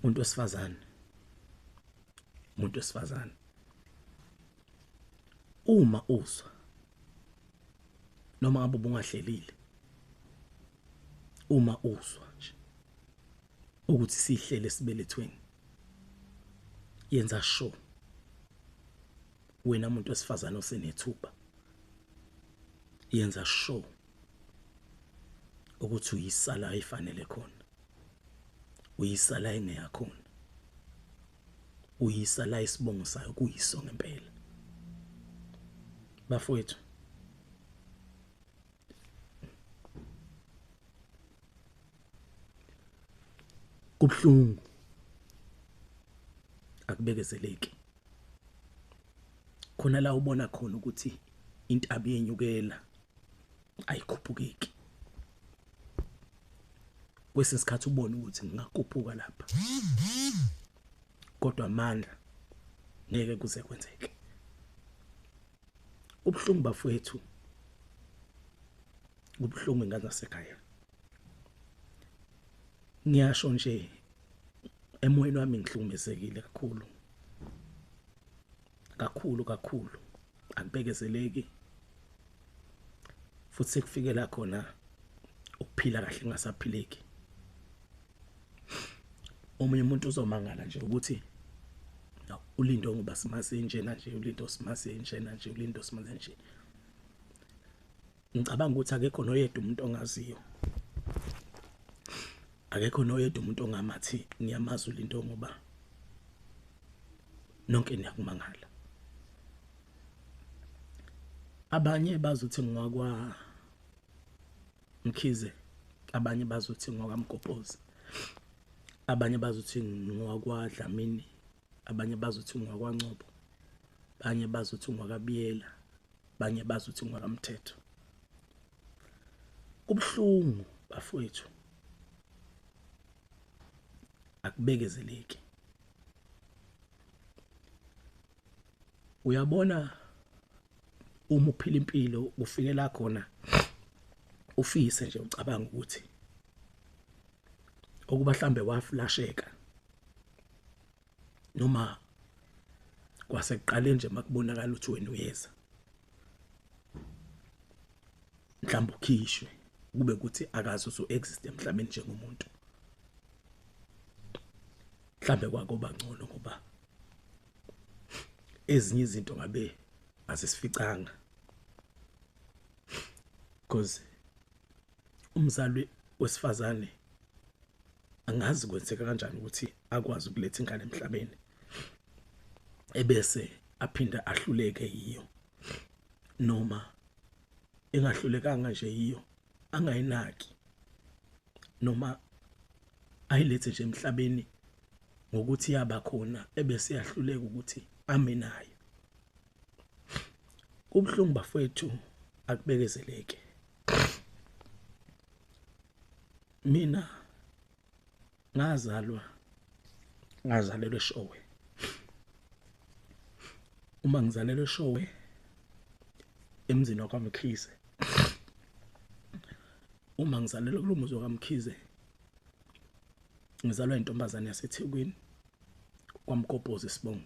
umuntu wesifazane umuntu wesifazane uma uzwa noma ngabe ubungahlelile uma uzwa nje ukuthi sihlele sibelethweni yenza show wena muntu wesifazane osenethuba yenza show ukuthi uyisala ayifanele khona uyisala engeyakhona uyisala isibongo sayo kuyiso ngempela bafowethu kubuhlungu akubekezeleki khona la ubona khona ukuthi intabi yenyukela ayikhuphukeki kwesinye isikhathi ubone ukuthi ngingakuphuka lapha kodwa amandla ngeke kuze kwenzeke ubuhlungu bafowethu kubuhlungu ingane zasekhaya ngiyasho nje emoyeni wami ngihlukumezekile kakhulu kakhulu kakhulu akubekezeleki futhi sekufikela khona ukuphila kahle kungasaphileki omunye umuntu uzomangala nje ukuthi ulindo ngoba simazi njena nje ulindo simazi njena nje ulindo simazi nje ngicabanga ukuthi akekho noyedwa umuntu ongaziyo akekho noyedwa umuntu ongamathi ngiyamazi ulinto ngoba nonke niyakumangala abanye bazothi ngwakwa mkhize abanye bazothi ngwakamgobhozi abanye bazothi ngwakwadlamini abanye bazothi ngwakwaNcobo abanye bazothi ngwakabiyela abanye bazothi ngwakamthetho kubuhlungu bafowethu akubekezeleki uyabona uma uphila impilo ufikela khona ufise nje ucabanga ukuthi okuba hlambe waflasheka noma kwasekuqaleni nje makubonakala ukuthi wena uyeza mhlawumbe ukhishwe kube ukuthi akazi usu exist emhlabeni njengomuntu mhlambe kwakuba ngcono ngoba ezinye izinto ngabe asisificanga because umzali wesifazane angazi kwenzeka kanjani ukuthi akwazi ukuletha ingane emhlabeni ebese aphinde ahluleke yiyo noma engahlulekanga nje yiyo angayinaki noma ayilethe nje emhlabeni ngokuthi yaba khona ebese yahluleka ukuthi ame nayo Kubuhlungu bafowethu akubekezeleke. Mina ngazalwa ngazalelwe showe. Uma ngizalelwe showe emzini wakwamkhize. Uma ngizalelwe kulomuzi wakwamkhize ngizalwa intombazane yaseThekwini kwamgobhozi sibonga.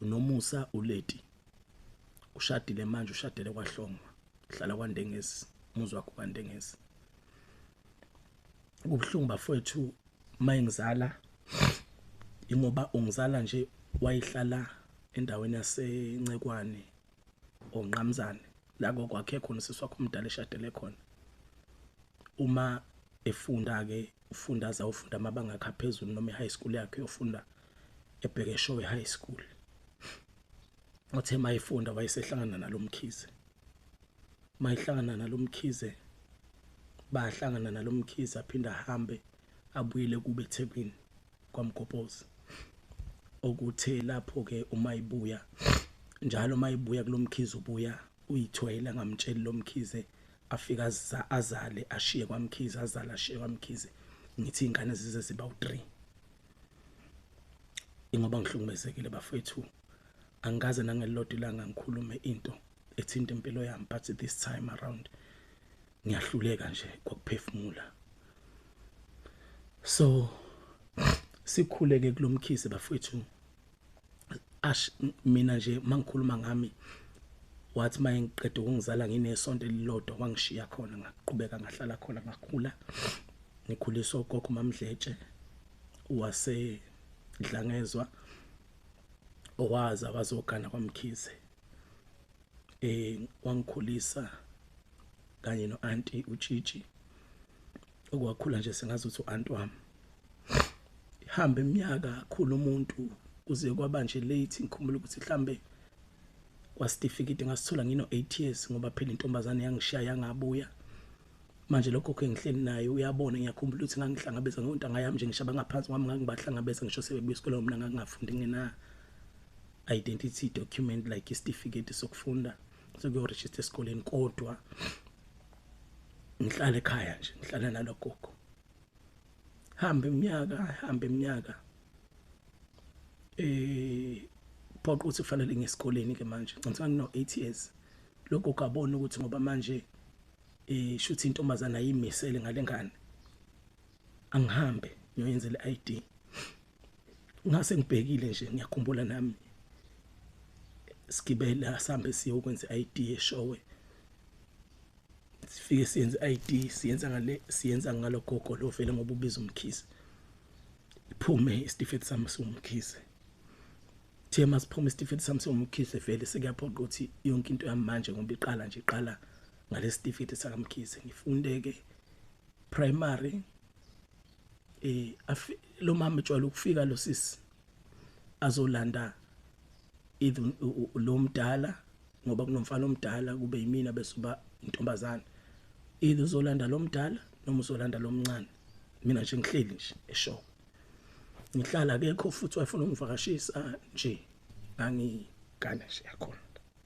uNomusa uLeti ushadile manje ushadele kwaHlongwa uhlala kwaNdengezi umuzi wakho kwaNdengezi kubuhlungu bafowethu mayengizala ingoba ungizala nje wayihlala endaweni yaseNcekwane onqamzane la kokwakhe khona usisi wakho umdala eshadele khona uma efunda ke ufunda azawufunda amabanga akhe aphezulu noma e-high school yakhe yofunda eBhekeshowe High School. Othe mayifunda wayesehlangana nalomkhize. Mayihlangana nalomkhize bahlangana nalomkhize aphinda ahambe abuyele kube eThekwini kwaMgopozi. Okuthe lapho ke uma ibuya njalo uma ibuya kulomkhize ubuya uyithwele angamtsheli lomkhize afika azale ashiye kwaMkhize azale ashiye kwaMkhize ngithi ingane zize ziba u3 ingoba ngihlukumezekile bafethu angikaze nangelilodwa ilanga ngikhulume into ethinta impilo yami but this time around ngiyahluleka nje kokuphefumula so sikhuleke kulomkhisi bafethu ash mina nje mangikhuluma ngami wathi maye ngiqede ukungizala nginesonto elilodwa wangishiya khona ngaqhubeka ngahlala khona ngakhula ngikhuliswa ugogo mamdletshe wase dlangezwa owaza wazogana kwamkhize eh wangikhulisa kanye noanti utshitshi okwakhula nje sengazi ukuthi u-aunt wami ihambe iminyaka akhula umuntu kuze kwaba nje late ngikhumbula ukuthi mhlambe kwasitifiketi ngasithola ngino 8 years ngoba phela intombazane yangishiya yangabuya manje lokho kengihleli naye uyabona ngiyakhumbula ukuthi ngangihlangabeza ngontanga yami nje ngisho abangaphansi kwami ngangibahlangabeza ngisho sebebuya esikoleni mina ngangingafundi ngina identity document like isitifiketi sokufunda sokuyoregister esikoleni kodwa ngihlala ekhaya nje ngihlala nalogogo hamba iminyaka hamba iminyaka eh phoqa ukuthi kufanele ngesikoleni ke manje ngicela ngino 8 years lokho kabona ukuthi ngoba manje eh shuthi intombazana ayimisele ngalengane angihambe ngiyoyenzela i-ID ngase ngibhekile nje ngiyakhumbula nami sigibela sambe siyokwenza i-ID eshowe sifike siyenze i-ID siyenza ngale siyenza ngalo gogo lo vele ngoba ubiza umkhize iphume isitifiketi sami siwumkhize Thiye masiphuma isitifiketi sami siwumkhize vele sekuyaphoqa ukuthi yonke into yami manje ngoba iqala nje iqala ngalesitifiketi sakamkhize ngifunde ke primary eh lo mama ejwayele ukufika lo sisi azolanda even lo mdala ngoba kunomfana omdala kube yimina bese uba intombazana either uzolanda lo mdala noma uzolanda lo mncane mina nje ngihleli nje esho ngihlala akekho futhi wayefuna ukungivakashisa nje angigane nje yakhona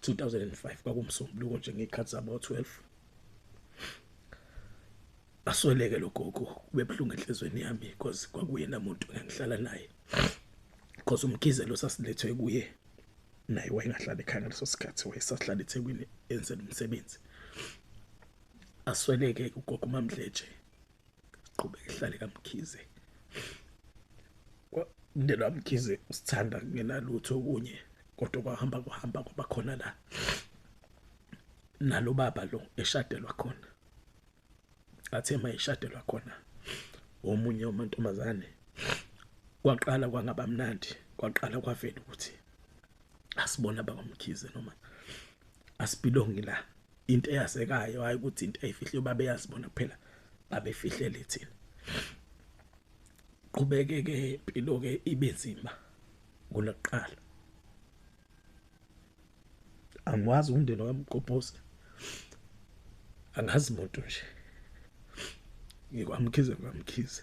2005 kwakumsombuluko nje ngey'khathi zabo-12 asweleke lo gogo kube buhlungu enhlizweni yami because kwakuyena muntu engihlala naye because umgizelo sasilethwe kuye naye wayengahlala ekhaya ngaleso sikhathi wayesahlala ethekwini enzela umsebenzi asweleke ugogo umamdletshe qhubeka ihlale kaMkhize umndeni waMkhize usithanda kungenalutho okunye kodwa kwahamba kuhamba kwaba khona la nalo baba lo eshadelwa khona athe mayishadelwa khona omunye umantombazane kwaqala kwangaba mnandi kwaqala kwavela ukuthi asibona bakwamkhize noma asibhilongi la into eyasekayo hayi ukuthi into eyifihle babe yazibona kuphela babefihlele thina qhubeke ke impilo ke ibe nzima kuloqala angikwazi umndeni wamqophosi angazi muntu nje ngikwamkhize kwamkhize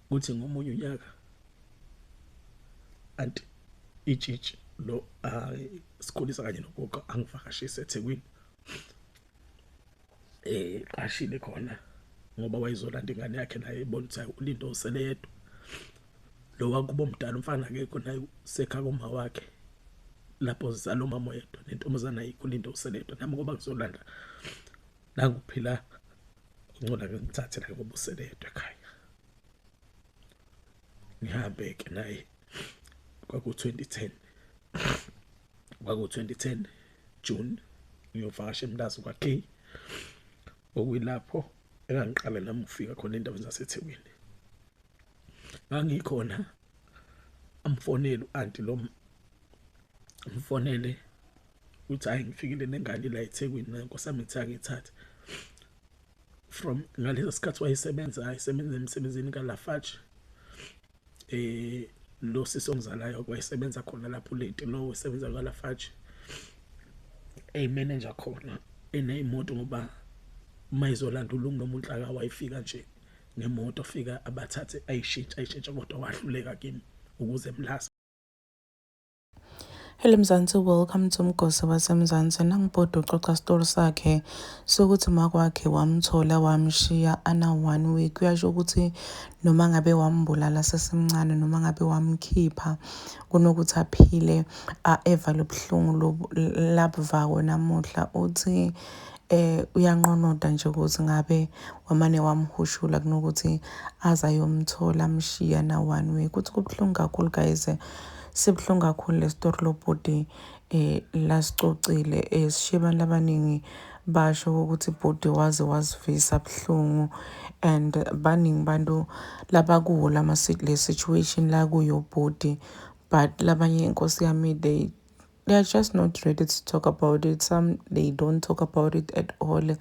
kuthi ngomunye unyaka anti itshitshi lo hayi sikhulisa kanye nogogo angivakashise eThekwini eh qashile khona ngoba wayezolanda ingane yakhe naye ebona ukuthi hayi ulindo usele yedwa lo wakubo mdala umfana akekho naye sekha kuma wakhe lapho zizalo mama yedwa nentombazana ayikho ulindo usele yedwa nami ngoba ngizolanda nanguphila uncola ngimthathe la ngoba usele yedwa ekhaya ngihambe ke naye kwaku 2010 kwaku 2010 June ngiyovakasha emlazi kwa K okuyilapho engangiqale nami ukufika khona endaweni zaseThekwini ngangikhona amfonele uanti lo mfonele uthi hayi ngifikile nengane la eThekwini nkosi yami ngithe angithathe from ngaleso sikhathi wayesebenza ayisebenza emsebenzini kaLafarge eh lo sisi ongizalayo kwayesebenza khona lapho leti lo usebenza kaLafarge eyi manager khona eneyimoto ngoba mayizolanda ulungu noma unhlaka wayifika nje ngemoto fika abathathe ayishintsha ayishintsha kodwa wahluleka kimi ukuze mlasa Hello Mzansi, welcome to Mgosi waseMzansi. Nangibhodi uxoxa story sakhe sokuthi makwakhe wamthola wamshiya ana one week. Kuyasho ukuthi noma ngabe wambulala sesemncane noma ngabe wamkhipha kunokuthi aphile eva lobuhlungu labuvako namuhla uthi eh uyanqonoda nje ukuthi ngabe wamane wamhushula kunokuthi aze ayomthola amshiya na one week. Uthi kubuhlungu kakhulu guys. Sibuhlungu kakhulu lesitori lobhuti eh lasicocile eh sishiye abantu abaningi basho ukuthi bhuti waze wasivisa buhlungu and baningi bantu labakuwo lama le situation la kuyo bhuti but labanye inkosi yami they they are just not ready to talk about it some they don't talk about it at all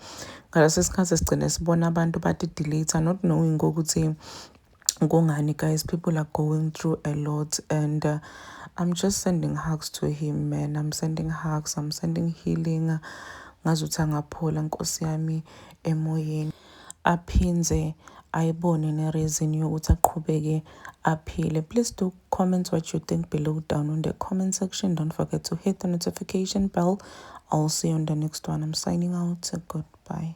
ngaleso sikhathi sigcine sibona abantu badi delete not knowing ukuthi kungani guys people are going through a lot and uh, i'm just sending hugs to him man i'm sending hugs i'm sending healing ngazuthi angaphola nkosi yami emoyeni aphindze ayibone ne-reason yokuthi aqhubeke aphile please do comment what you think below down on the comment section don't forget to hit the notification bell i'll see you on the next one i'm signing out goodbye